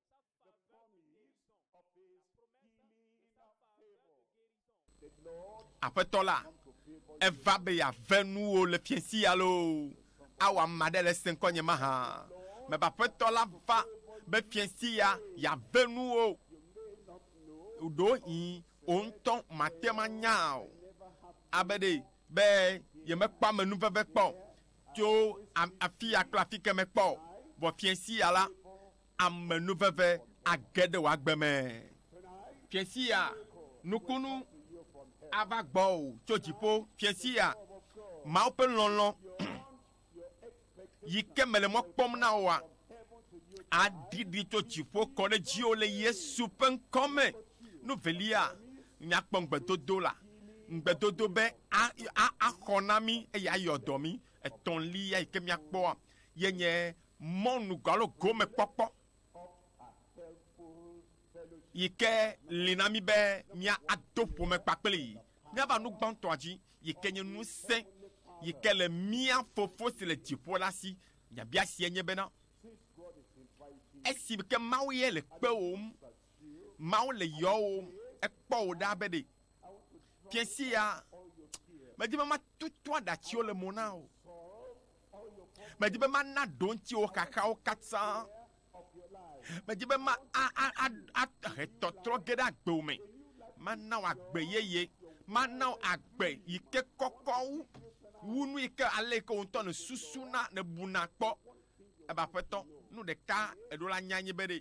The promise of his healing favor. The Lord Aƒetɔ la, come to favor you. eva be yeave nuwò le fiẽsi alo awɔ ame aɖe le ese ŋkɔnye mahã me be Aƒetɔ la va be fiẽsi ya yeave nuwò. You may not know, Ɖewohĩ wò ŋutɔ màte ŋu anya o, I never have to abe ɖee be yemekpɔ amenuveve kpɔ tso a- afia kple afike me kpɔ o. Vɔ fiẽsi ya la, Amenuveve age ɖe wò agbe me. Fiẽ sia nukunu ava gbɔwò tso dziƒo. Fiẽ sia Mawu ƒe lɔlɔ̃ yi ke mele mɔ kpɔm na wòa aɖiɖi tso dziƒo kɔ ɖe dziwò le Yesu ƒe ŋkɔ me. Nu velia, míakpɔ ŋugbedodo la, ŋugbedodo be a, a, axɔ na mí eye ayɔ dɔ mí. Etɔ̃lia yi ke míakpɔa ye nye Mɔnu gwalo gome kpɔkpɔ yi ke li na mí be mía ado ƒome kpakplii mía va nu gbãtɔa dzi yi ke nye nusẽ yi ke le mía Fofo si le dziƒo la si. Nyabia sia nye bena, esi ke Mawu ye le kpewòm, Mawu le yɔwòm, ekpɔ wò ɖa be ɖe fiẽ sia medi be matutu aɖatsiwo le mo na o. Medi be mana ɖo ŋutiwo xaxawo katã. Medi be ma ahe tɔtrɔ ge ɖe agbewo me. Mana wò agbe yeye. Mana wò agbe yi ke kɔkɔ wu wu nu yi ke ale yi ke wò ŋutɔ nèsusuna, nèbuna kpɔ. Ebe aƒetɔ, nu ɖeka eɖo la nya nyi be ɖe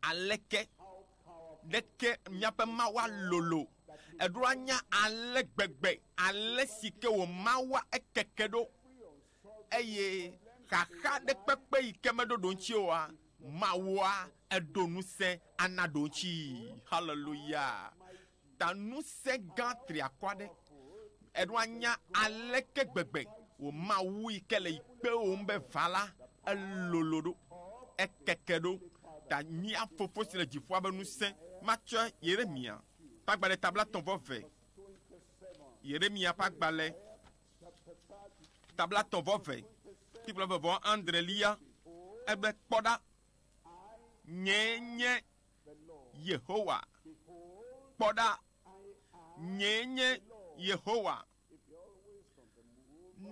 Aleke ɖeke míaƒe Mawua lolo! Eɖo anya ale gbegbe, ale si ke wò Mawua ekeke ɖo. Eye xaxa ɖe kpekpe yi ke meɖo ɖoŋtsi oa, Mawua eɖo ŋusẽ ana ɖoŋtsii. Haleluya! ta ŋusẽ gã triakɔ aɖe. Eɖo anya aleke gbegbe wò Mawu yi ke le yi kpewòm be va la, elolo ɖo, ekeke ɖo, ta mía Fofo si le dziƒoa be ŋusẽ matsɔe. Yeremia ƒe agbalẽ tabla tɔ̃ vɔ ve. Yeremia ƒe agbalẽ tabla tɔ̃ vɔ ve, tikplɔ eve vɔ andrelia. Egbe, kpɔ ɖa, nyee nye Yehowa. Kpɔ ɖa, nyee nye Yehowa.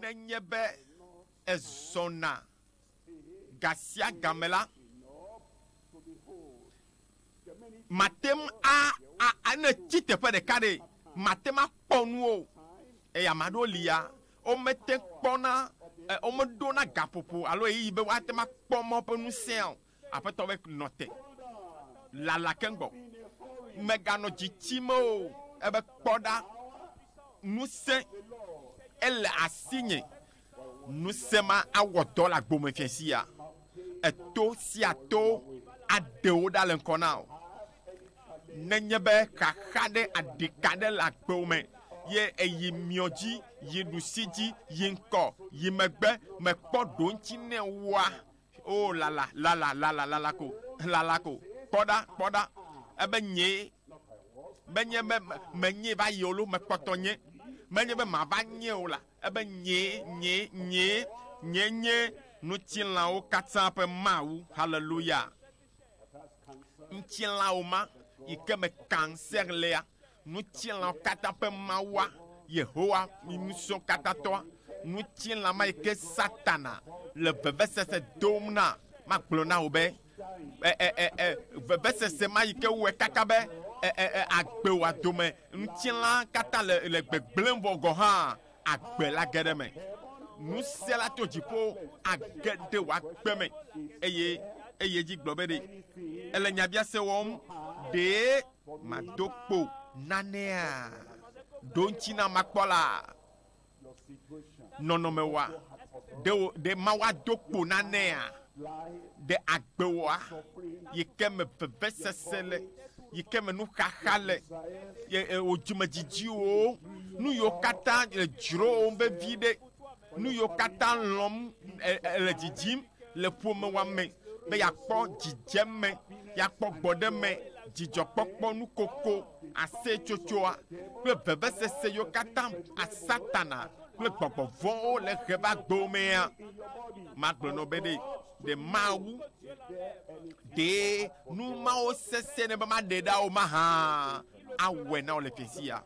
Nenye be èzɔna gasiagame la, màte ŋu a, a, a, ne ètsi teƒe ɖeka ɖe, màte ŋu akpɔ nu o. Eye ame aɖewo li ya, womete ŋu kpɔna, e, womeɖona gaƒoƒo alo ɣeyiɣi be woate ŋu akpɔ Mawu ƒe ŋusẽa o. Aƒetɔ be, Nɔ te, lala keŋ gbɔ, mèganɔ dzi tsim o. Ebe, Kpɔ ɖa, ŋusẽ ele asinye, ŋusẽ ma awɔ dɔ le agbo me fiasia. Eto sia to aɖe wò ɖa le ŋkɔ na wò. Nenye be xaxa ɖe aɖi ka ɖe le agbo me ye eyi miɔ dzi, yi ɖusi dzi, yi ŋkɔ, yi megbe, mekpɔ ɖoŋtsi nɛ oa, O lala, lala, lala, lala ko, lala ko. Kpɔ ɖa, kpɔ ɖa, ebe nyee, menye be menyee va yi o lo, mekpɔtɔ nye, menye be mava nye o la, ebe nyee, nyee, nyee, nyee nye ŋutilãwo katã ƒe Mawu. Haleluya! Ŋutilãwo ma yi ke me kanser lea, ŋutilãwo katã ƒe Mawua, Yehowa, mi Ŋusẽkatãtɔa, ŋutilã ma yi ke Satana le vevesese dom na, magblɔ na wò be, e, e, e, e, vevesese ma yi ke wɔe kaka be e, e, e, agbe wò dome, ŋutilã katã le, le gbegblẽm vɔ gɔ̃ hã, Agbe le age ɖe me. Nusiala to dziƒo age ɖe wòagbe me. Eye eyi edzi gblɔ be, Ɖe èle nyabiase wɔm? Ɖe mado kpo nanea? Ɖo ŋuti na makpɔ la nɔnɔme wa. Ɖe mawa do kpo nanea? ɖe agbewoa yi ke me vevesese le, yi ke me nuxaxa le, ye wò dzimedzidziwo, nu yiwo katã le dzrowòm vevi ɖe, nu yiwo katã lɔm le dzidzim le ƒomewoa me be yeakpɔ dzidzeme, yeakpɔ gbɔɖeme, dzidzɔkpɔkpɔ, nukoko, aseyetsotsoa kple vevesese yiwo katã Satana kple gbɔgbɔ vɔ̃wo le ʋe va domea, magblɔ nɔ be ɖe ɖe Mawu ɖee nu mawo sesẽ ne be maɖe ɖa o mahã awɔe na wò le fiasia.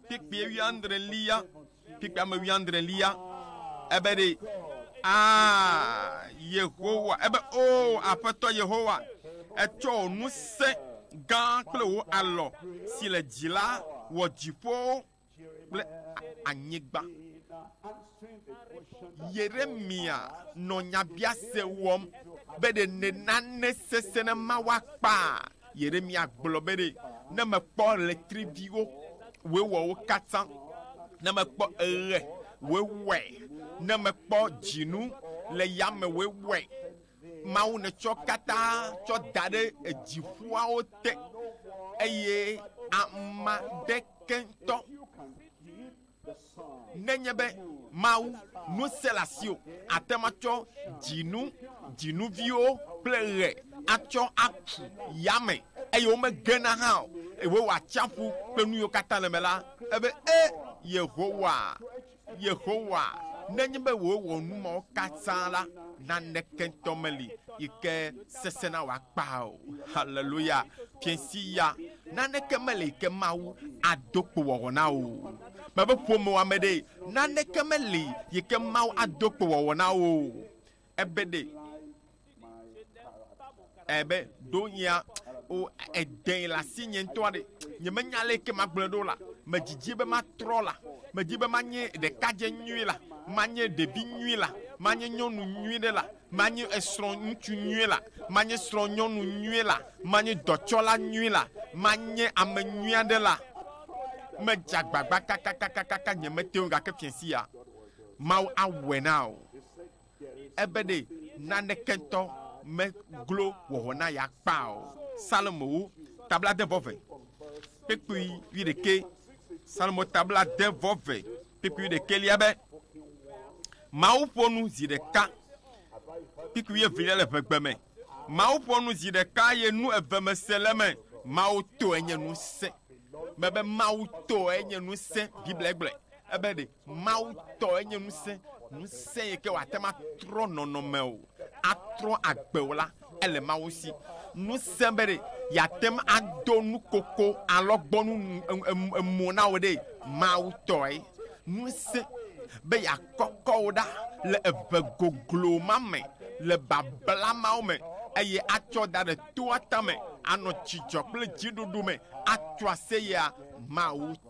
Kpekpea wuiadrelia, kpekpea me wuiadrelia, ebe ɖe, aa, Yehowa, ebe, o, Aƒetɔ Yehowa, etsɔ wò ŋusẽ gã kple wò alɔ si le dzi la wɔ dziƒowo kple anyigba. Yeremya nɔ nyabiase wɔm be ɖe nane sesẽ ne ma woakpa. Yeremya gblɔ be ɖe ne mekpɔ ɣletriviwo wòewɔwo katã, ne mekpɔ eɣe wòewɔe, ne mekpɔ dzinu le yame wòewɔe, Mawu nètsɔ katã tsɔ da ɖe edziƒoawo te, eye ama ɖe keŋtɔ nenye be Mawu ŋusẽ le asiwò, àte ŋu atsɔ dzinu, dzinuviwo kple ɣe atsɔ aku yame, eye womegena hã o, eye wowɔ atsiaƒu kple nuyiwo katã le eme la. Ebe, E Yehowa! Yehowa, nenye be wòwɔ nu mawo katã la, naneke ŋutɔ meli yi ke sesẽna wòakpa o. Haleluya! Fiẽsi ya, naneke meli yi ke Mawu ado kpowɔwɔ na wò o. Mebe ƒomewɔame ɖee, naneke meli yi ke Mawu ado kpowɔwɔ na wò o. ebe ɖe ebe ɖo nyea o edɛn le asi nye ŋutɔa ɖe nyemenya le ke magblɔe ɖo la medzidzi be matrɔ la medi be manye ɖekadze nyui la manye ɖevi nyui la manye nyɔnu nyui ɖe la manye esrɔ̃ ŋutsu nyui la manye srɔ̃ nyɔnu nyui la manye dɔtsɔla nyui la manye ame nyui aɖe la medze agbagba kakakakaka nyemete ŋu gake fiasia Mawu awɔe na wò. Ebe ɖe naneke ŋutɔ meglo wɔwɔ na ya kpa o. Psalmowo tabladeɛvɔve kpekpui wuiɖekɛ. Psalmo tabladeɛvɔve kpekpui wuiɖekɛ lia be, Mawu ƒo nu zi ɖeka kpekpui wuievelia le ʋegbe me. Mawu ƒo nu zi ɖeka ye nu eve me se le eme. Mawu tɔe nye ŋusẽ. Mebe Mawu tɔe nye ŋusẽ. Biblia gblɔe. Ebe ɖe Mawu tɔ enye ŋusẽ, ŋusẽ yi ke wòate ŋu atrɔ nɔnɔme wò, atrɔ agbe wò la, ele Mawu si. Ŋusẽ be ɖe yeate ŋu ado nukoko, alɔgbɔnu emo na wò ɖee, Mawu tɔe. Ŋusẽ be yeakɔkɔ wò ɖa le eve goglo ma me, le babla mawo me, eye atsɔ da ɖe toa tame, anɔ dzidzɔ kple dziɖuɖu me, atso aseyea, Mawu tɔe.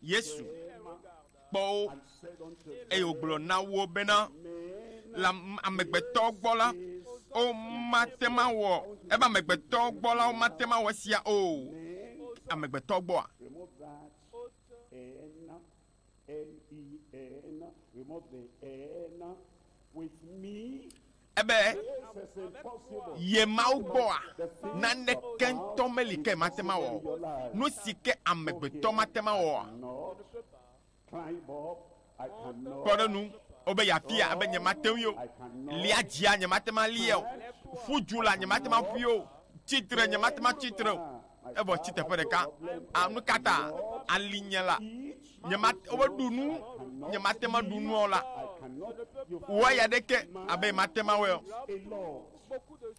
Yesu kpɔ wo, eye wògblɔ na wo bena, le amegbetɔ gbɔ la, womate ŋu awɔ, ebe amegbetɔ gbɔ la, womate ŋu awɔ esia o. Amegbetɔ gbɔa? Ebe, Ye Mawu gbɔa, naneke ŋutɔ meli ke mate ŋu awɔ o. Nu si ke amegbetɔ mate ŋu awɔ oa? Kpɔ ɖe ŋu wobe yeafia ebe nyemate ŋui o. Lia dzia, nyemate ŋu alia o. Ƒu du la, nyemate ŋu aƒui o. Tsi tre, nyemate ŋu atsi tre o. evɔ tsi teƒe ɖeka. A nu ka ta? Ali nye la, nyemate womeɖu nu, nyemate ma ɖu nua o la, wɔ ya ɖeke abe mate ma wɔe o.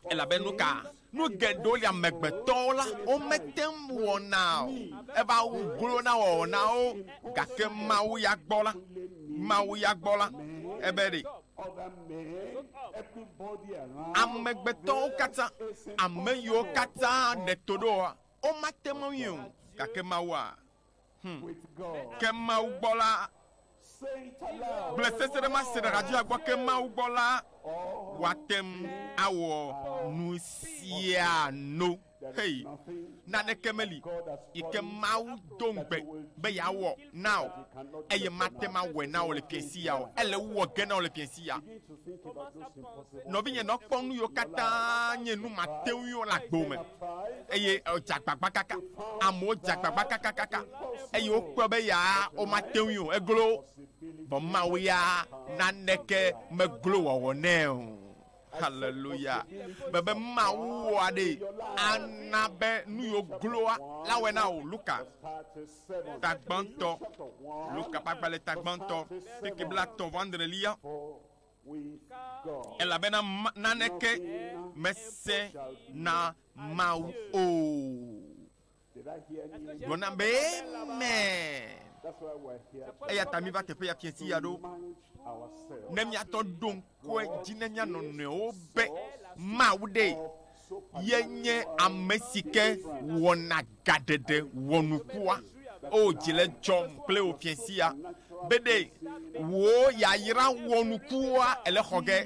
Elabe nu ka? Nu geɖewo li amegbetɔwo la, womete ŋu wɔna o. Eva wu glo na wɔwɔ na wo, gake Mawu ya gbɔ la, Mawu ya gbɔ la, ebe ɖe Amegbetɔwo katã, ame yiwo katã ɖe to ɖo woa, womate ŋu awui o, gake Mawua? Hum. Ke Mawu gbɔ la, gblẽ seseɖemaseɖehadziha gbɔ, ke Mawu gbɔ la, woate ŋu awɔ nusiano. Xeyi, naneke meli yi ke Mawu do ŋugbe be yeawɔ na wò eye mate ŋu awɔe na wò le fiẽ siaa o. Ele wu wɔ ge na wò le fiẽ siaa. Nɔvinye, nɔ kpɔm nu yiwo katã nye nu mate ŋui o le agbo me. Eye edze agbagba kaka. Amewo dze agbagba kakakaka eye wokpɔe be yaa womate ŋui o, eglo wo. Vɔ Mawu ya naneke meglo wɔwɔ nɛ o. Haleluya. Bebe Mawu wɔa ɖe ana be nu yo gloa la wɔ na o. Luka tagbãtɔ, Luka ƒe agbalẽ tagbãtɔ, keke bla tɔ̃ vɔ andrelia. Elabena naneke mese na Mawu o. Gblɔ nam be, Amen. Eya ta miva teƒe ya fiasi ya ɖo, ne miatɔ ɖo ŋkɔe dzi ne mia nɔnɔewo be Mawu ɖe yenye ame si ke wɔna gaɖeɖe wɔnukua. O oh, dzi le dzɔm kple wò fiasi ya be ɖe wò yayra wɔnukua ele xɔ ge,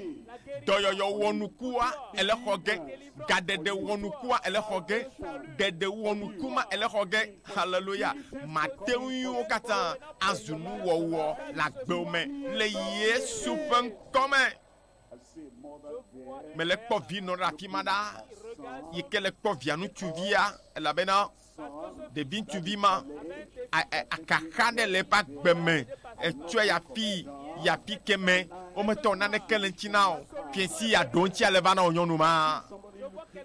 dɔyɔyɔ wɔnukua ele xɔ ge. Gaɖeɖe wɔnukua ele xɔ ge, ɖeɖe wɔnuku ma ele xɔ ge. Haleluya! Mate ŋui wo katã azu nuwɔwɔ le agbewo me le Yesu ƒe ŋkɔ me. Mele kpɔ vinɔ ɖe afi ma ɖa yi ke le kpɔ via ŋutsuvia elabena Ɖeviŋutsuvi ma akaxa ɖe le eƒe agbe me, etsɔe yi afi yi afi ke me, wometɔ naneke le ŋuti na o. Fiesi ya ɖo ŋuti ale va na wò nyɔnu ma.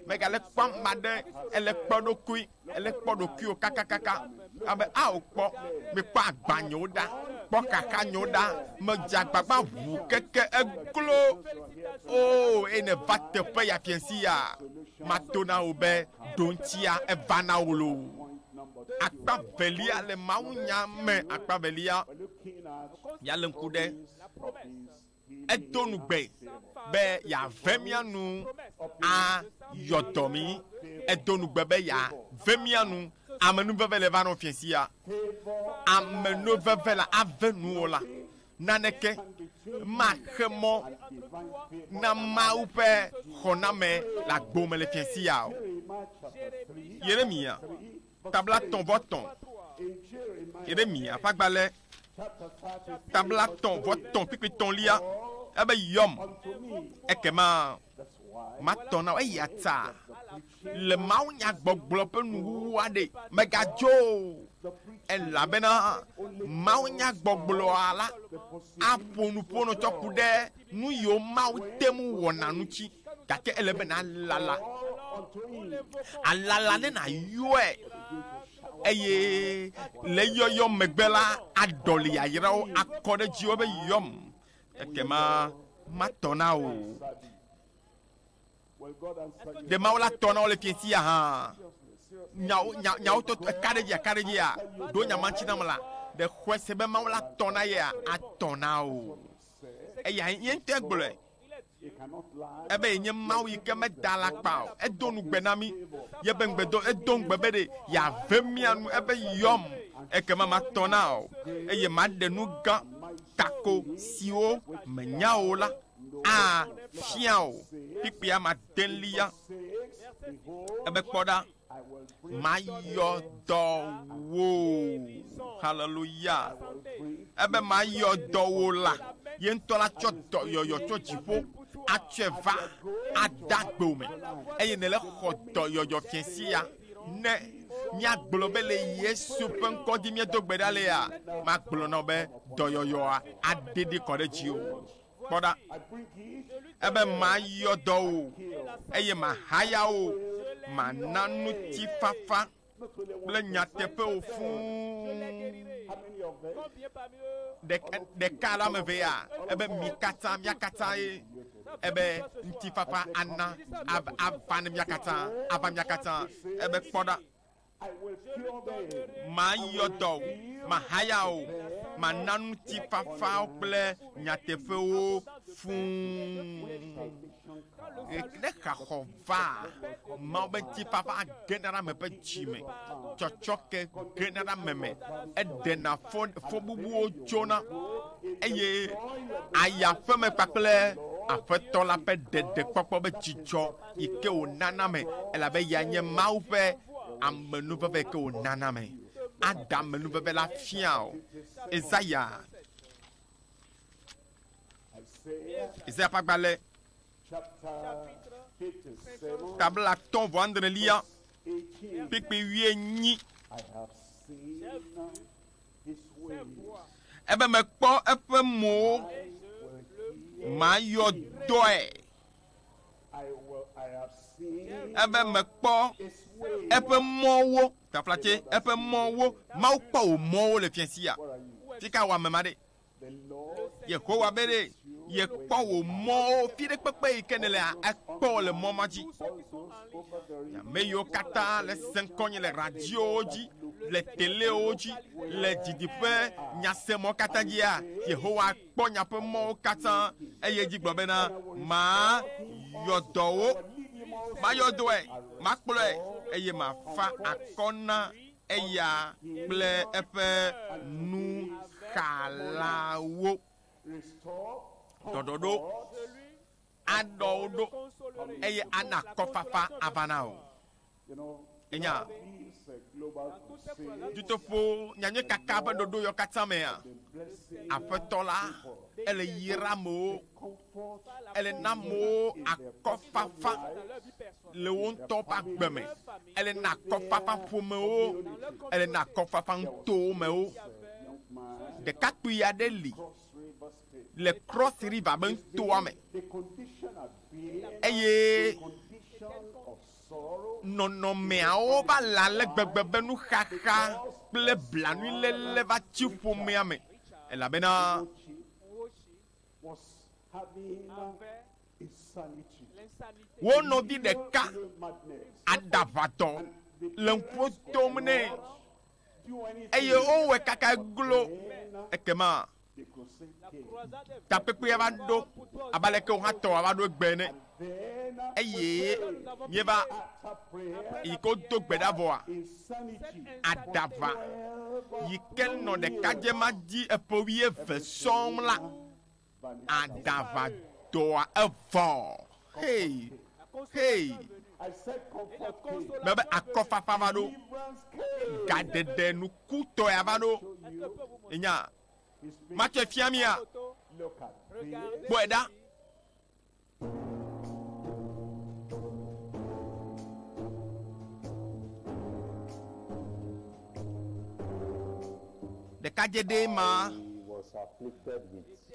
Megale kpɔ ame aɖe ele kpɔ eɖokui, ele kpɔ ɖokuiwò kakakaka. Abe ao kpɔ, mekpɔ agba nyewo ɖa, kpɔ xaxa nyewo ɖa, medze agbagba ŋu keke eglo. Oo, eye nèva teƒe ya fiesi ya, mato na wò be. Ɖoŋtsia eva na wò loo. Akpa velia le mawunya me akpa velia, míalé ŋku ɖe edo nu gbe be yeave mía nu ayɔ dɔ mí. Edo nu gbe be yeave mía nu. Amenuveve le va nɔ fiẽ sia. Amenuveve la ave nuwò la. naneke maxe mɔ na Mawu ƒe xɔname le agbo me le fiẽ sia o. Yeremiya tablatɔ̃-vɔ-tɔ̃, Yeremiya ƒe agbalẽ tablatɔ̃-vɔ-tɔ̃ kpikpitɔ̃lia, ebe yɔm, ekema matɔ na wo, eya ta Le mawunyagbɔgblɔ ƒe nuwuwu aɖee, mègadzo o, elabena mawunyagbɔgblɔa la aƒo nu ƒonɔ tsɔ ku ɖe nu yiwo Mawu te ŋu wɔna ŋuti, gake ele be nàlala. Àlala ne nàyɔe, eye le eyɔyɔ megbe la, aɖɔli yayrawo akɔ ɖe dziwò be, Yɔm, ekema matɔ na wò. Ɖe Mawu la tɔ na wo le fiẽ sia hã? Nyawo, nya, nyawo to eka ɖe edzi, eka ɖe edzia? Ɖo nya ma ŋuti nam la, ɖe xɔe se be Mawu la tɔ na yea? Atɔ na o. Eya ye ŋutɔe gblɔe. Ebe yenye Mawu yi ke meda alakpa o. Edo ŋugbe na mí. Yebe ŋugbe do, edo ŋugbe be ɖe yeave mía nu. Ebe, Yɔm, ekema matɔ na ao, eye maɖe nu gã, tako, siwo mènya o la afia wò kpukpuia madelia ebe kpɔ ɖa mayɔ dɔ wo haleluya ebe mayɔ dɔ wo la ye ŋutɔ la tsɔ dɔ yɔyɔ tsɔ dziƒo atsɔe va ada gbewo me eye nele xɔ dɔ yɔyɔ fia sia ne míagblɔ be le yesu ƒe ŋkɔ dzi míedo gbe ɖa lea magblɔ na be dɔyɔyɔa aɖeɖi kɔ ɖe dziwò Kpɔ ɖa, ebe mayɔ dɔ wò, eye mahaya wò, mana ŋutifafa kple nyateƒe wò fũu. Ɖeka, ɖeka alo ame evea, ebe mi katã, mía katãe, ebe ŋutifafa ana, ava ne mía katã, ava mía katã, ebe kpɔ ɖa. Mayɔ dɔ wò, mahaya wò, mana ŋutifafa kple nyateƒe wò fũu. Ne xaxɔ va, Mawu be ŋutifafa gena ɖe ame ƒe dzi me, tsɔtsɔke gena ɖe ame me, eɖena fɔ fɔbubuwo tsona, eye aya ƒeme kpakple Aƒetɔ la ƒe ɖeɖekpɔkpɔ be dzidzɔ. yi ke wònana ame, elabe ya nye Mawu ƒe amenuveve yi ke wònana ame. Ada amenuveve la fia o. Ezaya, Ezaya ƒe agbalẽ, tabla atɔ̃ vɔ andrelia, kpekpe wuienyi. Ebe mekpɔ eƒe mowo, mayɔ dɔe. Ebe mekpɔ eƒe mɔwo, taflatse, eƒe mɔwo. Mawu kpɔ wò mɔwo le fia sia. Fi ka wɔ ame ma ɖe? Yehowa be ɖe yekpɔ wò mɔwo, fi ɖe kpekpe yi ke nèlea, ekpɔ wò le mɔ ma dzi. Nye ame yiwo katã le se ŋkɔnye le radiowo dzi, le telewo dzi, le didiƒe nyasemɔ katã dzia, Yehowa. kpɔ nya ƒe mɔwo katã, eye edzi gblɔ bena, Mayɔ dɔwò, mayɔ dɔe, makplɔe, eye mafa akɔ na eya kple eƒe nuxalawo. Ɖɔɖɔɖo. aɖɔ wò ɖo eye ana akɔfafa ava na wò. Ènya? Dutoƒo nyanyui kaka ƒe ɖoɖoyawo katã mea, Aƒetɔ la, ele yra amewo, ele na amewo akɔfafa le wo ŋutɔ ƒe agbe me, ele na akɔfafa ƒomewo, ele na akɔfafa nutowo mewo. Ɖekakpui aɖe li. le Cross River be toa me, eye nɔnɔmeawo va le ale gbegbe be nuxaxa kple blanuiléle va tsi ƒomea me, elabena wo nɔvi ɖeka aɖaʋatɔ le ŋkuwo tom nɛ. eye wowɔe kaka glo. Ekema takpekpea va ɖo abe aleke wohatɔ wòava ɖo egbe ene. Eye míeva yi ke wodo gbe ɖa vɔa, aɖaʋa yi ke nɔ ɖekadze ma dzi eƒe wuieve sɔŋ la Aɖava dɔa evɔ. Hey! Hey! Mebe akɔfafa va ɖo. Gaɖeɖe nukutɔea va ɖo. Enya. Matsɔe fia mia. Kpɔe ɖa. Ɖekadzɛ ɖee ma.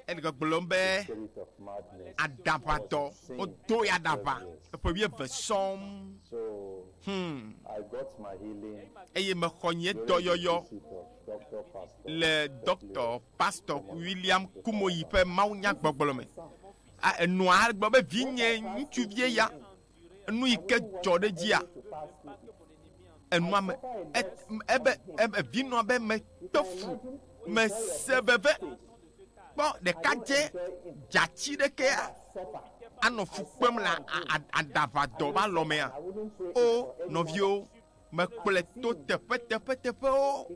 Ele gbɔgblɔm be aɖaʋatɔ, wodoe aɖaʋa eƒe wuieve sɔŋ. Hum. Eye mexɔ nye dɔyɔyɔ le Ɖɔkta Pastor William Kumuyi ƒe mawunyagbɔgblɔ me. A Enɔa agblɔ be, Vinye ŋutsuvie ya, enu yi ke dzɔ ɖe dzia? Enɔa me, ebe, ebe vinɔa be mekpe fu, mese veve. Kpɔ ɖekadzɛ dzatsi ɖekea anɔ fu kpem le aɖaʋadɔ va lɔ mea? O, nɔviwo, mekplɔe to teƒe teƒe teƒewo.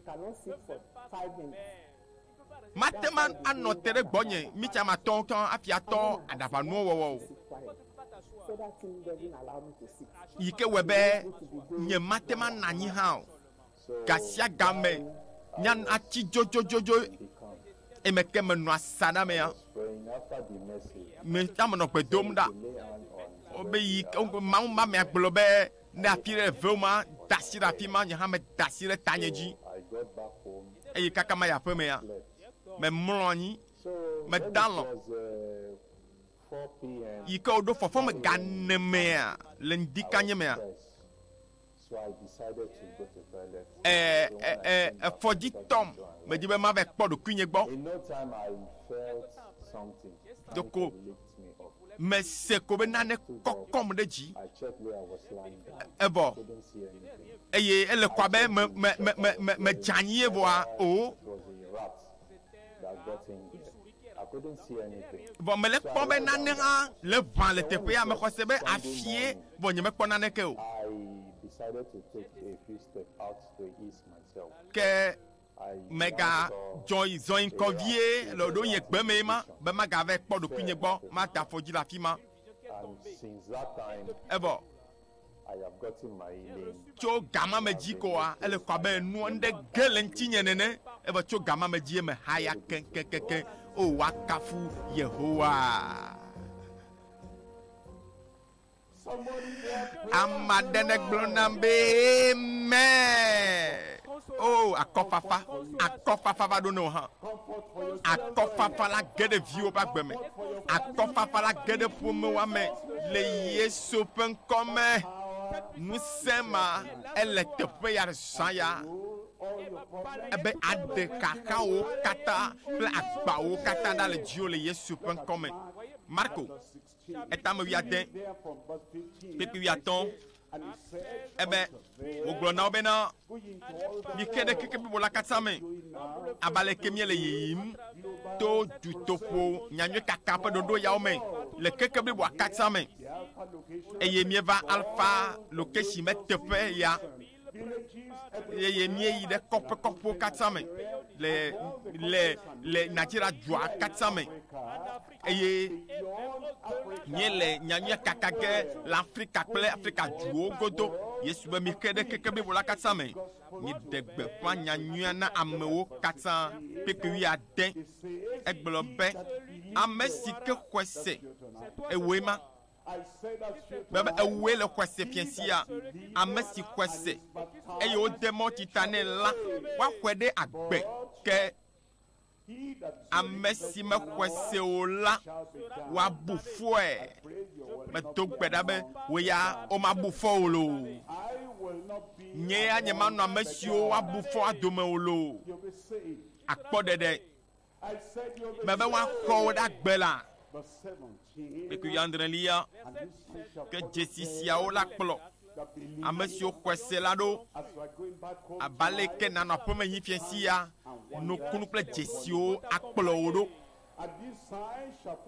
Mate ŋu anɔ te ɖe gbɔnye mitsamatɔ ŋutɔ hafi atɔ aɖaʋanuwo wɔwɔ o, yi ke wɔe be nyemate ŋu anɔ anyi hã o. Gasiagame nya natsi dzodzodzodzo eme ke menɔ asaɖa mea, meta me nɔ gbe dom ɖa be yi ke Mawu mame agblɔ be, Ne afi ɖe ve ma da asi ɖe afi ma, nye hã meda asi ɖe tanye dzi, eye kaka mayi aƒemea, memlɔ anyi, mede alɔ̃. Yi ke woɖo fɔfɔ me ga ene mea, le ŋdi kanye mea, e, e, e, efɔ dzi tɔm. Medi be mava kpɔ ɖokuinye gbɔ. Ɖeko Mese ko be nane kɔkɔm ɖe dzi. Evɔ eye ele kɔ abe me me me me me me dze anyi evɔa o. Vɔ mele kpɔ be nane hã le ʋã le teƒea. Mexɔse be afie vɔ nyemekpɔ naneke o. Ke Mega dzɔi zɔi ŋkɔ vie le wò ɖo nye gbe mee ma, be maga vae kpɔ ɖokuinye gbɔ, mada afɔ dzi le afima. Evɔ tso gama me dzi koa, ele kɔ abe nua nuɖe ge le ŋtinye nene, evɔ tso gama me dzie me haya keŋkeŋkeŋ. O! Woakafu Yehowa. Ame aɖe negblɔ nam be amen. Oh, akɔfafa, akɔfafa va ɖo ne wò hã. Akɔfafa la ge ɖe viwo ƒe agbe me. Akɔfafa la ge ɖe ƒomewoa me le Yesu ƒe ŋkɔ me. Ŋusẽ ma ele teƒe ya zã ya ebe aɖe xaxawo katã kple agbawo katã ɖa le dziwo le Yesu ƒe ŋkɔ me. Marko etame wuiade kpekpe wuiatɔ̃ ebe wògblɔ na wo bena, Mike ɖe kekeblibo la katã me abe aleke miele yiyim to dutoƒo nyanyuikaka ƒe ɖoɖo yawo me le kekebliboa katã me, eye mieva Alpha Location me teƒe ya. eye míeyi ɖe kɔƒe kɔkɔwo katã me le le le Nigeria dua katã me eye míele nyanyuia kaka ge le Afrika kple Afrika duwo godo. Yesu be mike ɖe keke blibo la katã me. Míeɖe gbeƒã nyanyuia na amewo katã kpekpe wuiade. Egblɔ be ame si ke xɔe se ewoe ma. Be be ewue le xɔse fia sia ame si xɔse eye wode mɔti ta nɛ la woaxɔe ɖe agbe ke ame si mexɔse o la woabu fɔe. Medo gbe ɖa be wò ya womabu fɔ o lo. Nye ya nyemanɔ ame siwo woabu fɔa dome o lo. Akpɔ ɖeɖe me be woakɔ wo ɖa gbe la, kpekpekpe adrelia, ke dzesi siawo la kplɔ ame siwo xɔe se la ɖo abe aleke nanɔ aƒemehifiẽ sia nukunu kple dzesiwo akplɔ wo ɖo.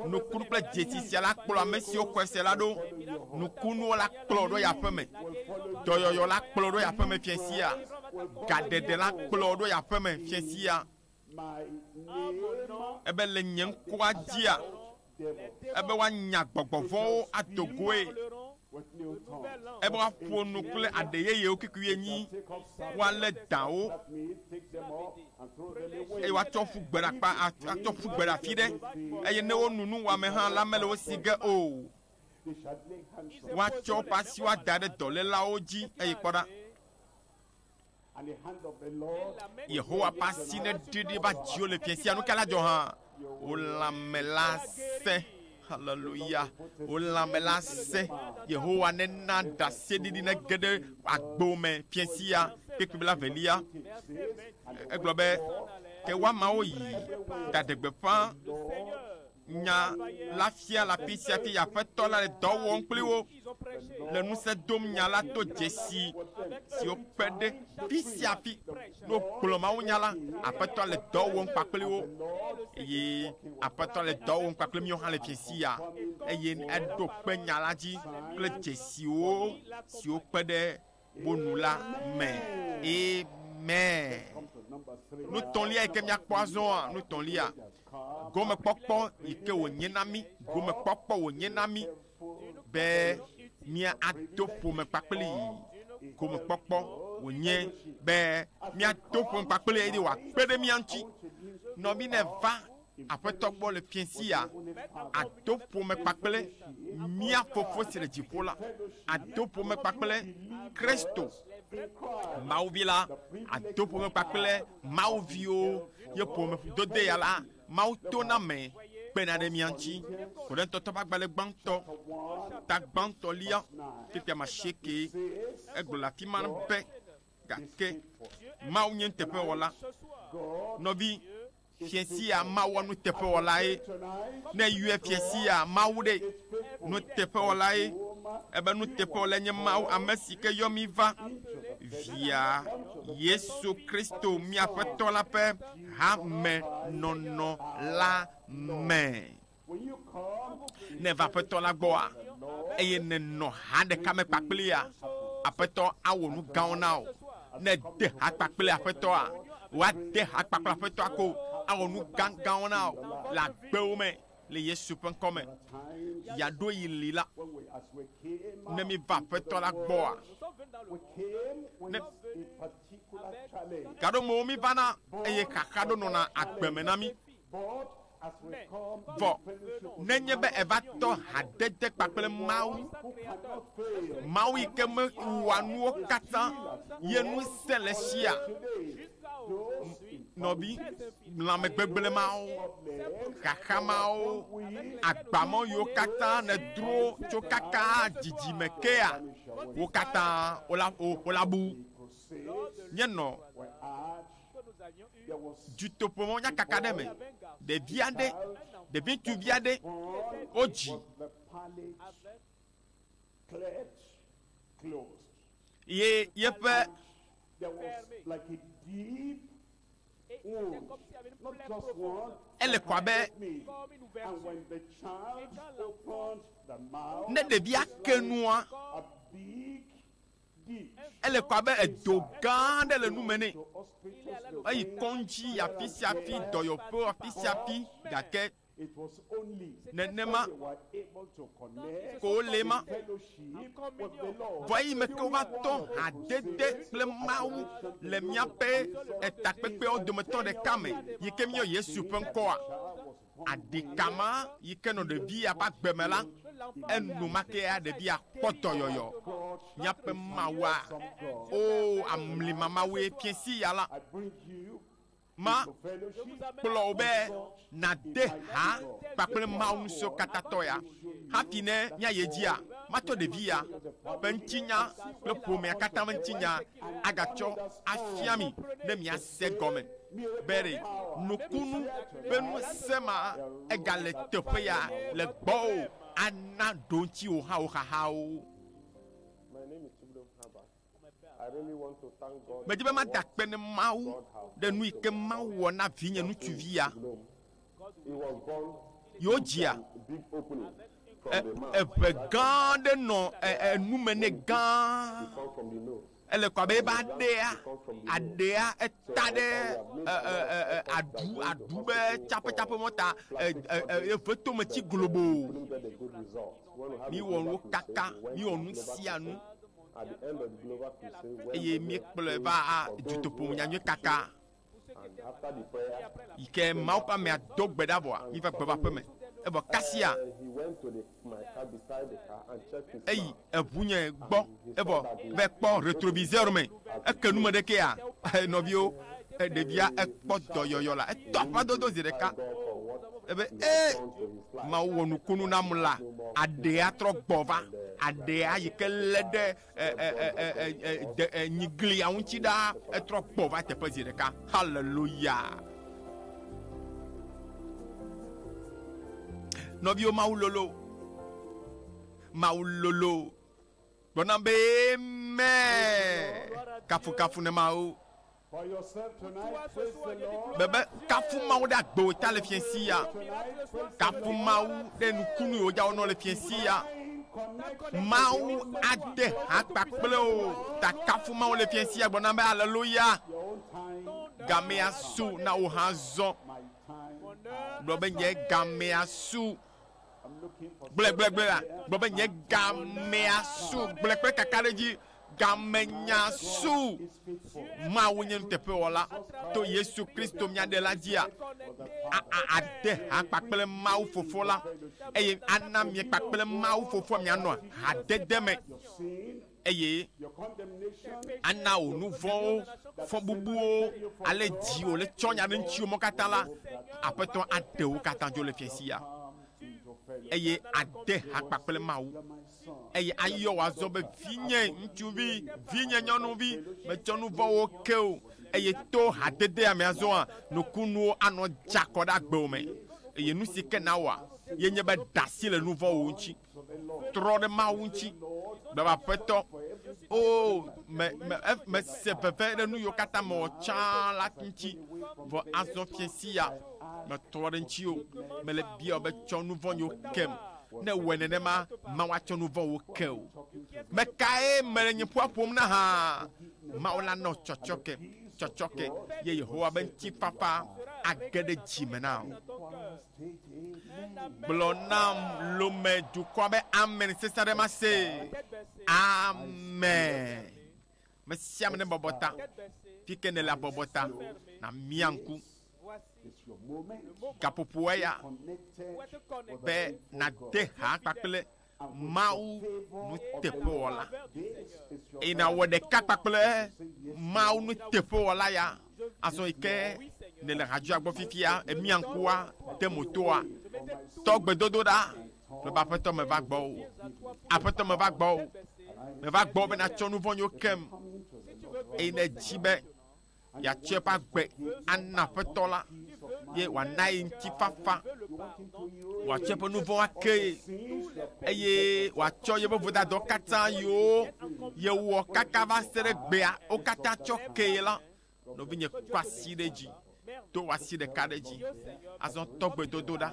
Nukunu kple dzesi sia la kplɔ ame siwo xɔe se la ɖo. Nukunuwo la kplɔ ɖo ya aƒeme. Dɔyɔyɔ la kplɔ ɖo ya aƒeme fiẽ sia. Gaɖeɖe la kplɔ ɖo ya aƒeme fiẽ sia. Ebe le nye ŋkɔa dzia, ebe woanya gbɔgbɔ vɔ̃wo ado goe, ebe woaƒo nu kple aɖe yeyewo kikui enyi, woalé dãwo, eye woatsɔ ƒu gbe ɖe akpa, atsɔ ƒu gbe ɖe afi ɖe, eye ne wonu nu wɔame hã la, mele wo si ge o. Woatsɔ woƒe asiwo ada ɖe dɔlélawo dzi, eye kpɔ ɖa, Yehowa ƒe asi neɖi ɖi va dziwò le fiẽ sia. Nu ka la dzɔ hã? Wò lãme la sẽ. Haleluya. Wò lãme la sẽ. Yehowa nena ɖaseɖiɖi nege ɖe agbo me fiẽ sia kpekpe bla velia. Egblɔ be, ke woamawo yi ɖaɖe gbeƒã Nya la fia le afi sia afi Aƒetɔ la le dɔ wɔm kpli wo, le ŋusẽ dom nya la to dzesi siwo kpe ɖe fi sia fi ne wogblɔ mawunya la. Aƒetɔ le dɔ wɔm kpakpli wo, eye Aƒetɔ le dɔ wɔm kpakpli míwo hã le fiesia, eye eɖo kpe nya la dzi kple dzesiwo siwo kpe ɖe bonu la me. Amen. Nutɔlia yi ke míakpɔ azɔa, nutɔlia, gomekpɔkpɔ yi ke wònye na mí, gomekpɔkpɔ wònye na mí be míado ƒome kpakple yi. Gomekpɔkpɔ wònye be míado ƒome kpakple yi eye wòakpe ɖe mía ŋuti. Nɔ mí ne va Aƒetɔ gbɔ le fiẽ sia, ado ƒome kpakple mía Fofo si le dziƒo la, ado ƒome kpakple Kristo, Mawu Vi la, ado ƒome kpakple Mawu viwo, ye ƒomedodeya la, Mawu tona eme kpena ɖe mía ŋuti. Korintɔtɔ ƒe agbalẽ gbãtɔ, ta gbãtɔ lia, fifia me asiekee egblɔ le afi ma be, Gake Mawu nye nuteƒewɔla. Nɔvi Fia sia mawɔ nuteƒewɔlae, ne eyɔe fia sia mawu ɖe. Nuteƒewɔlae, ebe nuteƒewɔlae nye Mawu, ame si ke yɔ mí va Via, Yesu Kristo, mía Aƒetɔ la ƒe hamenɔnɔ la me. Ne èva Aƒetɔ la gbɔa, eye nènɔ ha ɖeka me kpakplea, Aƒetɔ awɔ nu gãwo na wò. Ne ède ha kpakple Aƒetɔa, wòade ha kpakple Aƒetɔa ko, awɔ nu gãgãwo na wò le agbewo me le Yesu ƒe ŋkɔ me. Yeaɖo yi li la, ne míva Aƒetɔ la gbɔa, ne gaɖomewo mívana, eye xaxa ɖo nɔna agbe me na mí. Vɔ nenye be eva tɔ hadede kpakple Mawu, Mawu yi ke mewɔa nuwo katã ye ŋusẽ le sia, nɔvi, lãmegbegblẽ mawo, xaxa mawo, agbamɔ yiwo katã nèdro tso kaka dzidzime kea, wo katã wola, wo, wolabu. Nye nɔ. Dutoƒomɔ nyakaka aɖe me, ɖevi aɖe, ɖevi ŋutsuvi aɖe, wodzi ye yeƒe ele kɔ abe ne ɖevia ke nua Ele ko abe edo gã aɖe le nu me nɛ. Eyi kɔŋdzi afi sia afi, dɔyɔƒewo afi sia afi, gake nenema ko wòle ema. Vɔ eyi me ke wova tɔ hadede kple Mawu le míaƒe takpekpeawo dometɔ ɖeka me, yi ke míeyɔ Yesu ƒe ŋkɔa, Adika ma yi ke nɔ ɖevia ƒe agbe me la, enumakea ɖevia kpɔ dɔyɔyɔ. Míaƒe Mawua, oo, amlima Mawue, Fiẽsiya la, ma, kplɔ wò be nàde ha kpakple Mawu ŋusẽkatãtɔ ya. Hafi ne míayi edzia, matsɔ ɖevia ƒe ŋutinya kple ƒomea katã ƒe ŋutinya agatsɔ afia mi ne mía. se gɔme be ɖe nukunu be ŋusẽ ma egale teƒe ya le gbɔwò ana ɖoŋtsi wò hã wò xaxawo. Medi be mada akpe ne Mawu ɖe nu yi ke Mawu wɔ na vinye ŋutsuvi ya. Yewo dzia eŋe gã aɖe nɔ enume nɛ gã. Ele kɔ abe ebe aɖea aɖea eta ɖe aɖu aɖu be tsaƒetsaƒe mɔ ta eve tome tsi globo. Míwɔ nuwo kaka, míwɔ nu sia nu eye míekplɔe va dutoƒo nyanyuie kaka. Ke Mawu ƒe amea do gbe ɖa vɔa, mi va gbeva ƒeme. Evɔ kasia eyi eʋunye gbɔ, evɔ va kpɔ retroviseur me, eke nume ɖe kea, nɔviwo, ɖevia ekpɔ dɔyɔyɔ la, etɔ aƒã dodo zi ɖeka, ebe e, Mawu wɔ nukunu nam la, aɖea trɔ gbɔ va, aɖea yike le ɖe. nyiglia ŋuti ɖa etrɔ gbɔ va teƒe zi ɖeka haleluya nɔviwo mawu lolo mawu lolo gblɔna be amen kafukafu ne mawu Bebe, kafu Mawu ɖe agbe wò ta le fiɛ si ya. Kafu Mawu ɖe nukunu yi wodja wonɔ le fiɛ si ya. Mawu ade ha kpakple wò ta kafu Mawu le fiɛ si ya gblɔ na be aleloya. Gamea su na wò hã zɔ. Gblɔ be nye gamea su Gblẽgblẽgblẽ la gblɔ be nye gamea su gblẽ kple kakaɖedzi. Gamenya su Mawu nye nuteƒewɔla to Yesu Kristo mía Ɖela dzia, ade ha kpakple Mawu Fofo la eye ana miekpakple Mawu Fofoa mianɔ hadede me. eye ana wò nu vɔ̃wo fɔbubuwo ale dziwò le tsɔ nya ɖe ŋutiwò mɔ katã la, Aƒetɔ aɖe wo katã dzo le fiasia, eye ade ha kpakple Mawu, eye ayɔ wò azɔ be vinye ŋutsuvi, vinye nyɔnuvi, metsɔ nu vɔ̃wo ke wò, eye to hadedea me azɔa, nukunuwo anɔ dza kɔ ɖe agbewò me, eye nu si ke nawɔa, ye nye be ɖe asi le nu vɔ̃wo ŋuti. Trɔ ɖe Mawu ŋuti. Be Aƒetɔ, o, me, me, mese veve ɖe nu yiwo katã mewɔ tsã la ŋuti. Vɔ azɔ fiẽ sia, metrɔ ɖe ŋutiwò. Mele biaɔ be tsɔ nu vɔ̃ nyewo kem. Ne èwɔe nenema, Mawu atsɔ nu vɔ̃ wò ke wò. Mekae mele nye ƒua ƒom na hã? Mawu la nɔ tsɔtsɔke, tsɔtsɔke, ye Yehowa be ŋutifafa age ɖe dzi me na wò. Gblɔ nam lome dukɔa be amen sesẽ aɖe ma se. Amen. Me sia ame ne bɔbɔ ta. Fi ke nele abɔbɔ ta. Na mia ŋku. Gaƒoƒoa ya be nade ha kpakple Mawu nuteƒewɔla, eye nàwɔ ɖeka kpakple Mawu nuteƒewɔla ya. Azɔ yi ke nèle ha dzoa gbɔ fifia, èmia ŋkua, de mo toa, tɔ gbedodoɖa ƒe be Aƒetɔ meva gbɔwò, Aƒetɔ meva gbɔwò, meva gbɔwò be nàtsɔ nu vɔ̃ nywo kem, eye nèdi be. Yeatsɔe ƒe agbe ana Aƒetɔ la, ye wòana ye ŋutifafa. Wòatsɔ eƒe nu vɔ̃wo ake ye, eye wòatsɔ yeƒe vodadɔ katã yiwo yewɔ kaka va se ɖe gbea wo katã tsɔ kee la. Nɔvinye, kɔ asi ɖe dzi. Do wò asi ɖeka ɖe dzi. Azɔ tɔ gbedodoɖa.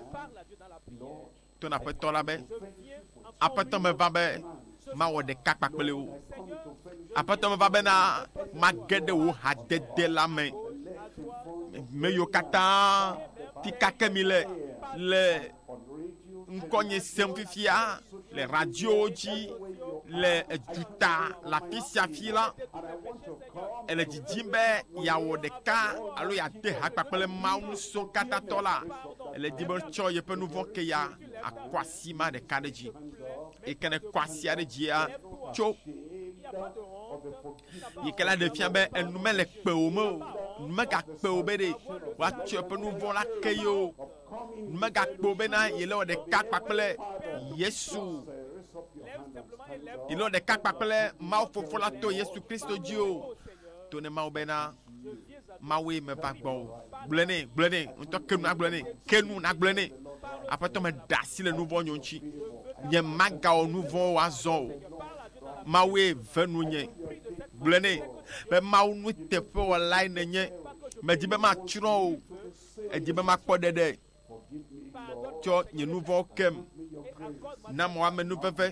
To na Aƒetɔ la be, Aƒetɔ meva be mawɔ ɖeka kpakple wò. Aƒetɔ meva bena mage ɖe wò hadede la me. Me yiwo katã ti kake mi le le ŋkɔnye sem fifia le radiowo dzi le eduta le afi sia afi la. Èle didim be yeawɔ ɖeka alo yeade ha kpakple Mawu Ŋusẽkatãtɔ la? Èle didim be etsɔ yeƒe nu vɔ̃ ke ya akɔ asi ma ɖeka ɖe dzi? Eyi ke nèkɔ asia ɖe dzia tso yi ke la ɖe fia be enu mele kpewò me o, nu megakpewò be ɖe woatsɔ yeƒe nu vɔ̃ la ke ye o. Megakpɔ bena yele wɔ ɖeka kpakple Yesu. Yele wɔ ɖeka kpakple Mawu Fofo la to Yesu Kristo dzi o. To ne Mawu bena Mawue meva gbɔ o. Gblɔe nɛ, gblɔe nɛ, ŋutɔ ke nu nagblɔe nɛ, ke nu nagblɔe nɛ. Aƒetɔ me ɖe asi le nu vɔ̃ nyo ŋuti. Nye magawɔ nu vɔ̃wo azɔ o. Mawue ve nu nye. Gblɔe nɛ be Mawu nuteƒewɔlae nenye. Medi be matsrɔ̃ o. Edi be makpɔ ɖeɖe tsɔ nye nu vɔ̃wo kem. Na mɔ ame nu veve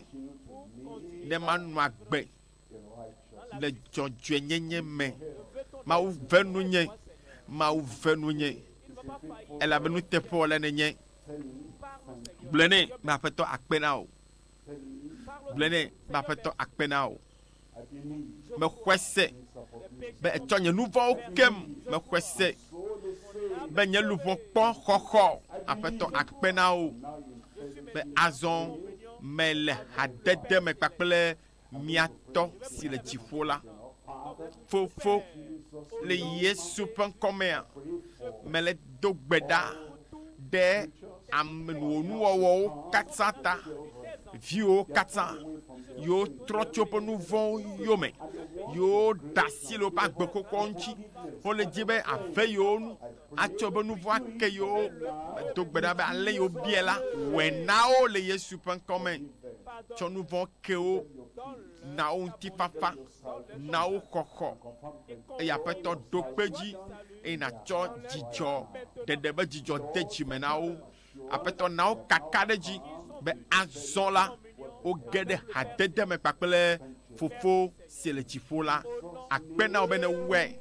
ne manɔ agbe le dzɔdzɔenyenye me. Mawu ve nu nye, Mawu ve nu nye, elabe nuteƒewɔla nènye. Gblɔe nɛ be Aƒetɔ akpe na wò. Gblɔe nɛ be Aƒetɔ akpe na wò. Mexɔe se be etsɔ nye nu vɔ̃wo kem. Mexɔe se be nye luʋɔ kpɔ xɔxɔ. Aƒetɔ akpe na wo be azɔ mele hadede me kpakple mia Tɔ si le dziƒo la. Fofo, le Yesu ƒe ŋkɔ mea, mele do gbe ɖa ɖe ame wò nuwɔwɔwo katã ta, viwòwo katã, yiwo trɔ tso woƒe nu vɔ̃wo yome, yiwo da asi le woƒe agbe xoxoawo ŋuti, wole di be àve yewo nu, atsɔ woƒe nu vɔ̃ ake yewo. Medo gbe ɖa be ale yi wobiae la, wɔe na wo le Yesu ƒe ŋkɔ me. Tsɔ nu vɔ̃ ke wo, na wo ŋutifafa. Na wo xɔxɔ, eye Aƒetɔ ɖo kpe dzi, eye nàtsɔ dzidzɔ, ɖeɖe be dzidzɔ de dzi me na wo. Aƒetɔ na wo kaka ɖe edzi be azɔ la, woge ɖe hadede me kpakple Fofo si le dziƒo la. Akpe na wò be nèwɔe.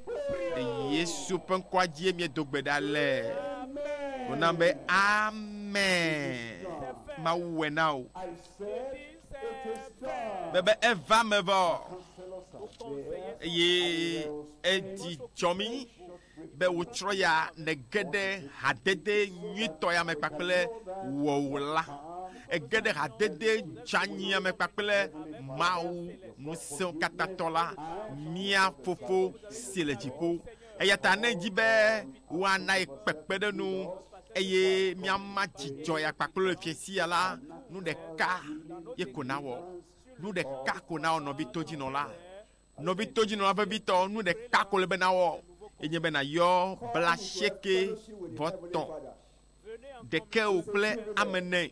Le Yesu ƒe ŋkɔa dzie míedo gbe ɖa le. Wò nam be, Amen. Mawu wɔe na wò. be be eva me vɔ eye edzi dzɔ mi be wotsrɔ̃ ya nege ɖe hadede nyuitɔ ya me kpakple wɔwla ege ɖe hadede dzanyia me kpakple mawu ŋusẽwo katã tɔ la mia fofo si le dziƒo Eya ta ne èdi be woana ye kpekpeɖeŋu eye míama dzidzɔ ya kpakple wò le fiasia la, nu ɖeka ye ko nawɔ. Nu ɖeka ko nawɔ, nɔvi todzinɔla. Nɔvi todzinɔla vevitɔ, nu ɖeka ko wòle be nawɔ, ye nye be nàyɔ blaasiekɛ vɔ tɔ̃ ɖekɛwò kple ame ene.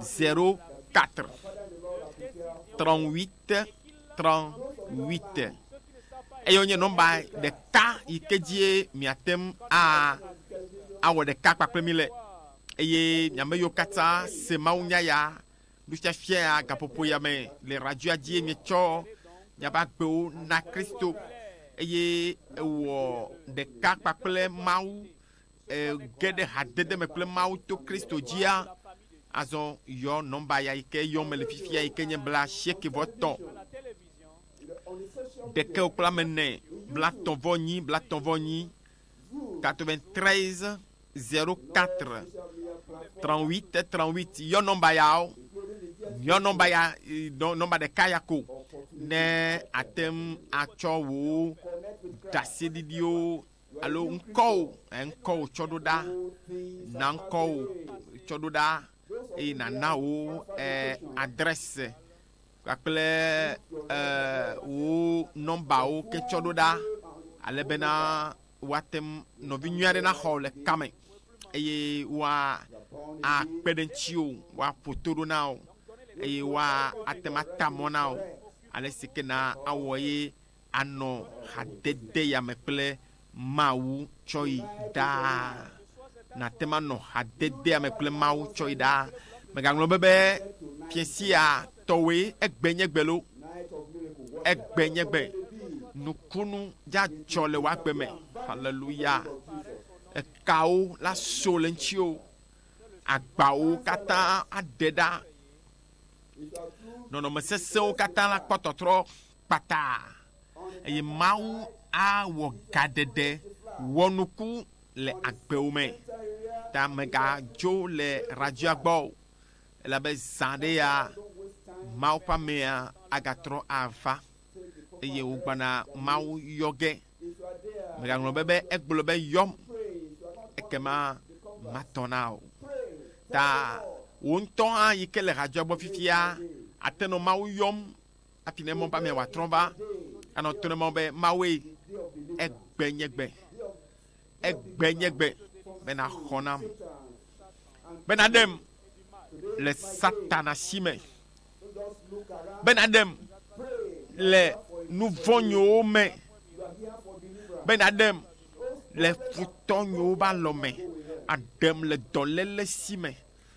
04 38 38 eye wonye nɔmba ɖeka yi ke dzie miate ŋu awɔ ɖeka kpakple mi le eye miame yiwo katã se mawunya ya nufiafia ya gaƒoƒo ya me le radioa dzie mietsɔ miaƒe agbewo na Kristo eye ewɔ ɖeka kpakple Mawu. ge ɖe hadede me kple Mawu to Kristo dzia, azɔ yɔ nɔmba ya yi ke yɔm mele fifia yi ke nye bla asieke vɔ tɔ ɖeke wo kple ame ene bla tɔ̃ vɔ nyi bla tɔ̃ vɔ nyi 93 04 38 38 yɔ nɔmba yawo yɔ nɔmba ya nɔmba ɖeka ya ko ne ate ŋu atsɔ wò ɖaseɖiɖiwo alo ŋkɔwò, eh, ŋkɔwò tsɔɖoɖa, na ŋkɔwò tsɔɖoɖa, eye nàna wò eh, adrɛse kpakple eh, wò nɔmbawo ke tsɔɖoɖa, ale bena woate ŋu nɔvi nyui aɖe naxɔ wò le ka me, eye woakpe ɖe ŋutiwò, woaƒo to ɖo na wò, eye woate ŋu ata mɔ na wò ale si ke na awɔ ye Anɔ hadedeyame kple Mawu tsɔyi ɖaa. Nàte ŋu anɔ hadedeyame kple Mawu tsɔyi ɖaa. Mègagblɔ be, be fiẽ sia tɔwoe, egbe nye gbe loo, egbe nye gbe. Nukunu dzadzɔ le wò agbe me. Haleluya! Ekawo la so le ŋutiwò. Agbawo katã aɖe ɖa. Nɔnɔme sesẽwo katã la kpɔ tɔtrɔ. kpata, eye Mawu awɔ gaɖeɖe wɔnuku le agbewo me. Ta mègadzo le Rajah gbɔ o, elabe zã aɖee ya, Mawu ƒe amea agatrɔ ava, eye wògbana Mawu yɔ ge. Mègaŋlɔ be be egblɔ be, Yɔm, ekema matɔ na o. Ta wò ŋutɔ hã yi ke le Rajah gbɔ fifia ate nɔ Mawu yɔm Hafi ne mɔ bamea wòatrɔ va anɔ to ne mɔ be Mawue egbe nye gbe, egbe nye gbe be naxɔ nam, be naɖem le Satana si me, be naɖem le nu vɔ̃nyiwo me, be naɖem le futɔ nyiwo ba lɔ me, aɖem le dɔlele si me,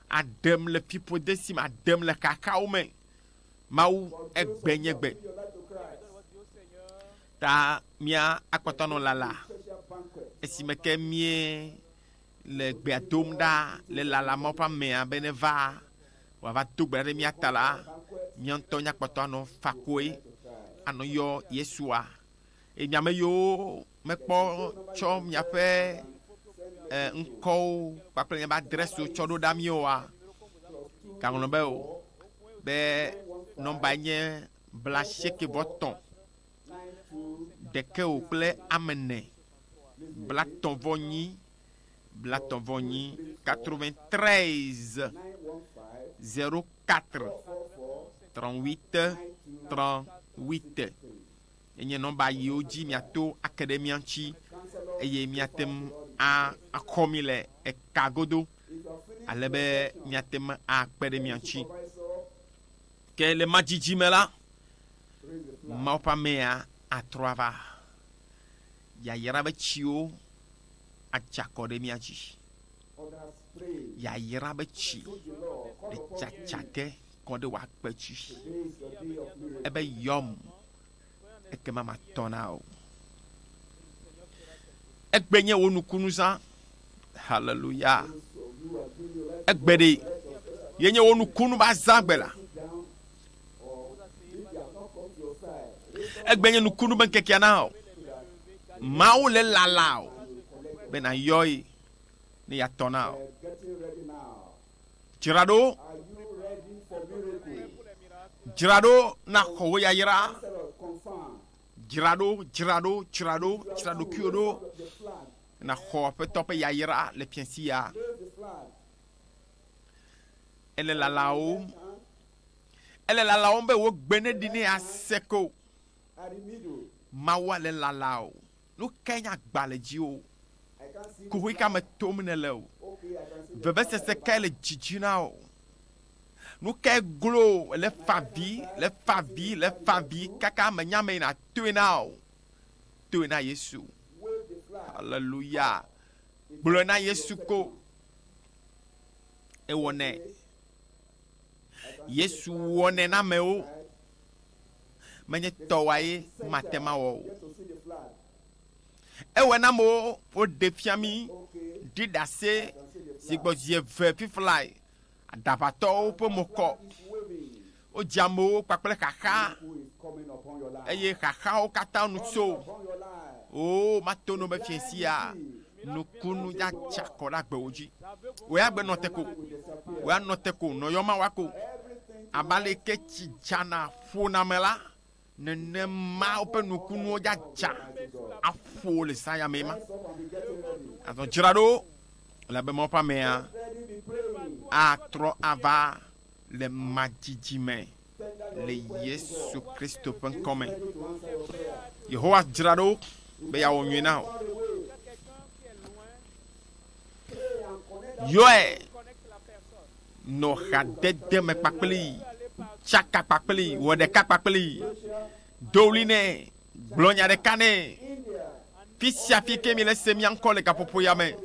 aɖem le fiƒode si me, aɖem le xaxawo me. Mawu egbe nye gbe. Ta mía akpɔtɔ nɔ lala esime ke mie le gbea dom ɖa le lala ma ƒe amea be ne va wòava do gbe ɖe mía ta la, mía ŋutɔ mía kpɔtɔ anɔ fakoe anɔ yɔ Yesua. Eye mía me yiwo Mekpɔ tsɔ miaƒe e, ŋkɔwo kpakple miaƒe adrɛsiwo tsɔ ɖo ɖa míoa? Gaŋlɔ be o, be nɔmbae nye blaasiekɛvɔtɔ̃ ɖekɛ o kple amene, blatɔ̃vɔnyi, blatɔ̃vɔnyi, 93 04 38 38. Enye nɔmba yiwo dzi miato ake ɖe mía ŋuti eye míate ŋu akɔ mí le eka godo ale be míate ŋu akpe ɖe mia ŋuti. Ke le madzidzi me la, Mawu ƒe amea atrɔ ava, yayra ƒe tsiwo adze akɔ ɖe mía dzi. Yayra ƒe tsi le tsatsage kɔ ɖe wò akpe dzi. Ebe, Yɔm, ekema matɔ na wò. Egbe nye wò nukunuzã. Haleluya. Egbe ɖi yenye wò nukunu va zã gbe la. Egbe nye nukunu be ŋkekea na wò. Mawu le lala o be nàyɔe ne yeatɔ na wò. Dzra ɖo, dzra ɖo na xɔwo yayra. Dzra ɖo, dzra ɖo, dzra ɖo, dzra ɖokuiwo ɖo na xɔ aƒetɔ ƒe yayra le fiasi ya. Ele lalawòm, ele lalawòm be wò gbe neɖi ne ase ko. Mawua le lalao. Nu kae nye agba le dziwò? Kuxi ka me tom nèle? Vevesese kae le dzidzi na wò? Nu kae glo le favi, le favi, le favi kaka mènya mee na toe na o? Toe na Yesu. Aleluya. Gblɔe na Yesu ko. Ewɔnɛ. Yesu wɔnɛ na amewo. menye tɔwae mate mawɔ o. Ewɔe na amewo woɖe fia mí ɖi ɖase si gbɔ zi eve fiflae, aɖaʋatɔwo ƒe mo kɔ. Wodzi amewo kpakple xaxa, eye xaxawo katã nu tso wo matonome fiẽ sia. nukunu ya tsa kɔ ɖe agbewo dzi. Wòe agbe nɔ te ko. Wòe anɔ te ko nɔ yɔma wa ko. Abe aleke tsi dzana ƒona me la, nenema woƒe nukunuwo ya dza aƒo le zãya mee ma. Azɔ dzra ɖo, elabe Mawu ƒe amea atrɔ ava le madzidzi me le Yesu Kristo ƒe ŋkɔ me. Yehowa dzra ɖo be yeawɔ nyui na wò. Yɔe nɔ hadede me kpakplii, tsaka kpakplii, wɔ ɖeka kpakplii, do ɣli nɛ. Gblɔ nya ɖeka nɛ, Fi sia fi ke mi le se mía ŋkɔ le gaƒoƒo ya me,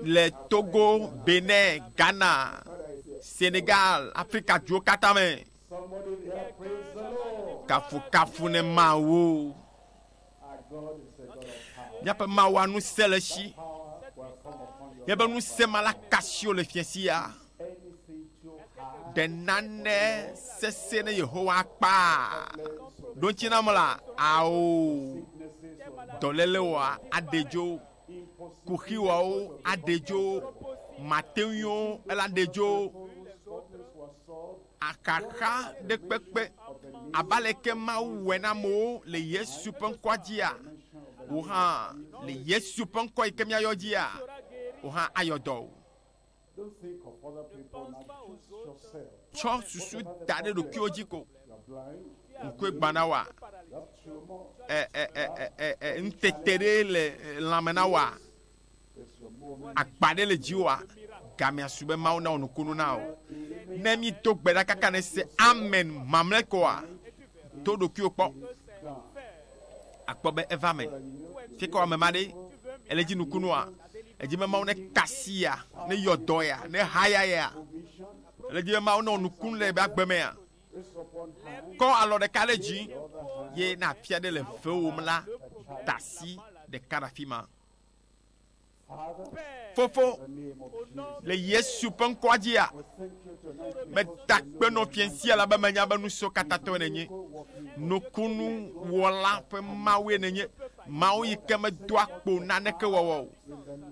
le Togo, Benin, Ghana, Senegal, Afrika duwo katã me, kafukafu ne Mawu. Míaƒe Mawua ŋusẽ le esi. Míaƒe ŋusẽ ma la kasio le fiasia. Ɖe nane sesẽ ne Yehowa kpaa ɖoŋtsi nam la? Ao! Dɔlélewoa aɖe dzo, kuxiwoawo aɖe dzo, mateŋuiwo elaɖe dzo, axaxa ɖe kpekpe. Abe aleke Mawu wɔe na amewo le Yesu ƒe ŋkɔa dzia? Wò hã, le Yesu ƒe ŋkɔ yi ke míayɔ dzia, wò hã ayɔ dɔ wò. Tsɔ susu da ɖe ɖokuiwò dzi ko. Ŋkue gbã na wòa? Ŋutete ɖe le lãme na wòa? Agba ɖe le dziwòa? Gamea su be Mawu nawɔ nukunu na wò. Ne mído gbe ɖa kaka ne se amen mamlɛ koa, to ɖokuiwò kpɔ. Àkpɔ be eva eme. Fie kɔ ame ma ɖe, ele dzi nukunua? Edzi be Mawu nekasi yea? Neyɔ dɔ yea? Nehaya yea? Ele dzi be Mawu newɔ nukunu le eƒe agbe mea? Kɔ alɔ ɖeka ɖe dzi ye ne afia ɖe le fewòm la, da asi ɖeka ɖe afi ma. Fofo, le Yesu ƒe ŋkɔa dzia, meda akpe nɔ fiẽ sia la be menya be nusɔkatãtɔe nènye, nukunuwɔla ƒe Mawue nènye. Mawu yi ke medoa kpo naneke wɔwɔ o.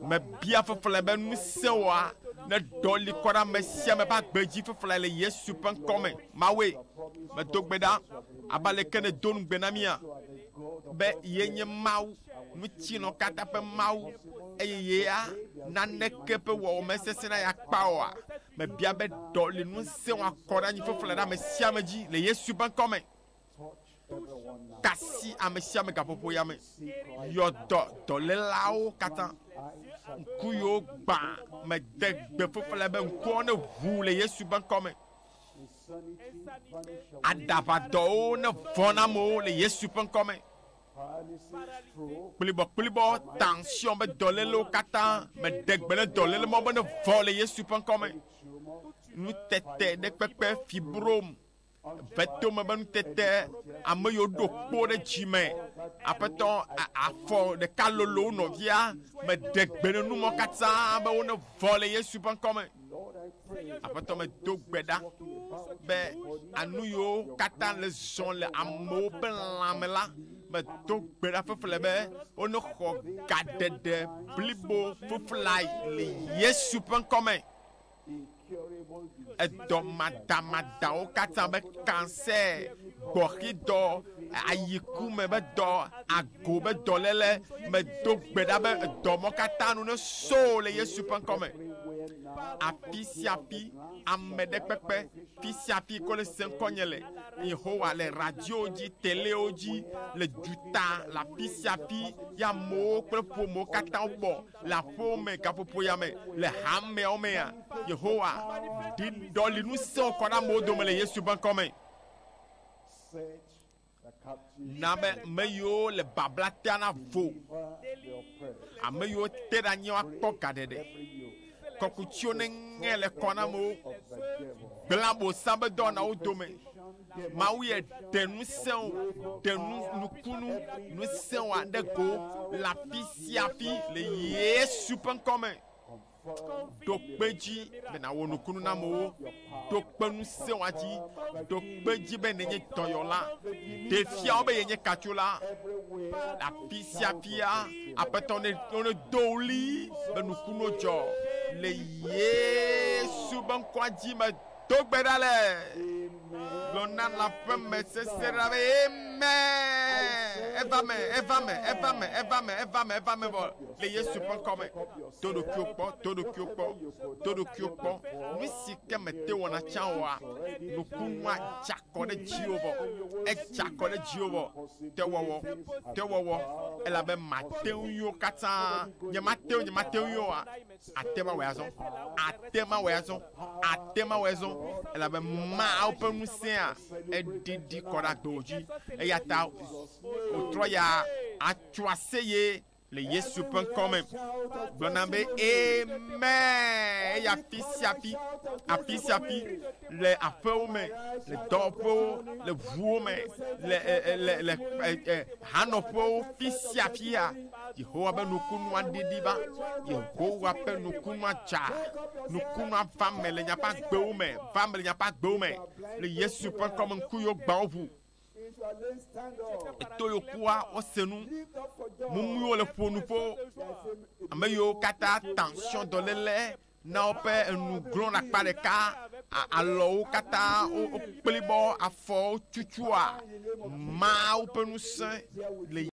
Mebia feflɛ be ŋusẽwɔa neɖɔli kɔ ɖe ame sia ame ƒe agbe dzi feflɛ le Yesu ƒe ŋkɔ me. Mawue, medo gbe ɖa, abe aleke nèdo ŋugbe na mía, be ye nye Mawu, ŋutilɔ katã ƒe Mawu, eye yea naneke ƒe wɔwɔ mesesẽ na ye akpa oa. Mebia be ɖɔli ŋusẽwɔa kɔ ɖe anyi feflɛ ɖe ame sia ame dzi le Yesu ƒe ŋkɔ me. Kasi amesiame gaƒoƒo ya me yɔ dɔ dɔlélawo katã. Ŋku yiwo gbã me de gbe ƒuƒle be ŋkuawo ne ʋu le Yesu be ŋkɔ me. Aɖaʋadɔwo ne vɔ̃ na amewo le Yesu ƒe ŋkɔ me. Kplibɔkplibɔ taŋsiɔn be dɔlélewo katã me de gbe ne dɔléle mɔ be ne vɔ̃ le Yesu ƒe ŋkɔ me. Nutete ɖe kpekpe fibrom. Ƒe tome be nutete ame yiwo ɖo kpo ɖe dzi me. Aƒetɔ afɔ ɖeka lolo wo nɔvia me de gbe ne nu mɔ katã be wo ne vɔ le Yesu ƒe ŋkɔ me. Aƒetɔ me do gbe ɖa be anu yiwo katã le zɔ le amewo ƒe lãme la me do gbe ɖa fefle be wo ne xɔ gaɖeɖe blibo feflai le Yesu ƒe ŋkɔ me. Edɔ madamadawo katã be kansɛ, gbɔxidɔ, ayi ku me be dɔ, ago be dɔléle. Medo gbe ɖa be edɔ mɔ katã nu neso le Yesu ƒe ŋkɔ me. Afi sia afi, ameɖekpekpe, fi sia fi ke wole se ŋkɔnye le, Yehowa, le radiowo dzi, telewo dzi, le duta, le afi sia afi, ye amewo kple ƒomewo katã wobɔ Le aƒewo me, gaƒoƒoya me, le hameawo mea, Yehowa ɖi ɖɔli ŋusẽwo kɔ ɖe amewo dome le Yesu ƒe ŋkɔ me. Na be ame yiwo le babla tea na vo, ame yiwo te ɖe anyi woakpɔ gaɖeɖe, kɔkutsiwo neŋe le kɔ na amewo, gblẽ Abosam ƒe dɔwɔnawo dome, Mawu ye ɖe ŋusẽwo, ɖe nu, nukunu, ŋusẽwo aɖe go le afi sia afi le Yesu ƒe ŋkɔ me. Ɖo kpe dzi be nàwɔ nukunu na amewo. Ɖo kpe ŋusẽwa dzi. Ɖo kpe dzi be nenye dɔyɔla. Ɖe fia wo be yenye katsola. Le afi sia afia, Aƒetɔ ne, nedo ɣli be nukunuwo dzɔ le Yesu be ŋkɔa dzi me. Do gbe ɖa le gblɔ na la ƒe me sese ɖa be eme eva me eva me eva me eva me eva me eva me vɔ le yesu ƒe ŋkɔ me to ɖokuiwo kpɔ to ɖokuiwo kpɔ to ɖokuiwo kpɔ nu si ke mete wɔna tsã wɔa nukunua dza kɔ ɖe dziwo vɔ edza kɔ ɖe dziwo vɔ tewɔwɔ tewɔwɔ elabe mate ŋuiwo katã nyemate ŋu nyemate ŋuiwoa Àte ŋu awɔe azɔ. Àte ŋu awɔe azɔ. Àte ŋu awɔe azɔ, elabe Mawu ƒe ŋusẽa ɖiɖi kɔ ɖe agbewo dzi. Eya ta wòtrɔ ya atso aseye le Yesu ƒe ŋkɔ me, gblɔna be, Amen! Eye afi sia afi, afi sia afi, le aƒewo me, le dɔwɔƒewo, le ʋuwo me, le, le, le, le, le hanɔƒewo, fi sia fia, Yehowa be nukunua ɖiɖi va. Yehowa be nukunua dza. Nukunua va me le nyaƒe agbewo me. Va me le nyaƒe agbewo me. Le Yesu ƒe ŋkɔ me ŋku yo gbawo ʋu. Eto yo kua wose nu. Mumuiwo le ƒo nu ƒo. Ame yiwo katã tension dɔléle na woƒe enu glɔ̃ ɖe akpa ɖeka. Alɔwo katã wokplibɔ, afɔwo tutua. Mawu ƒe ŋusẽ le.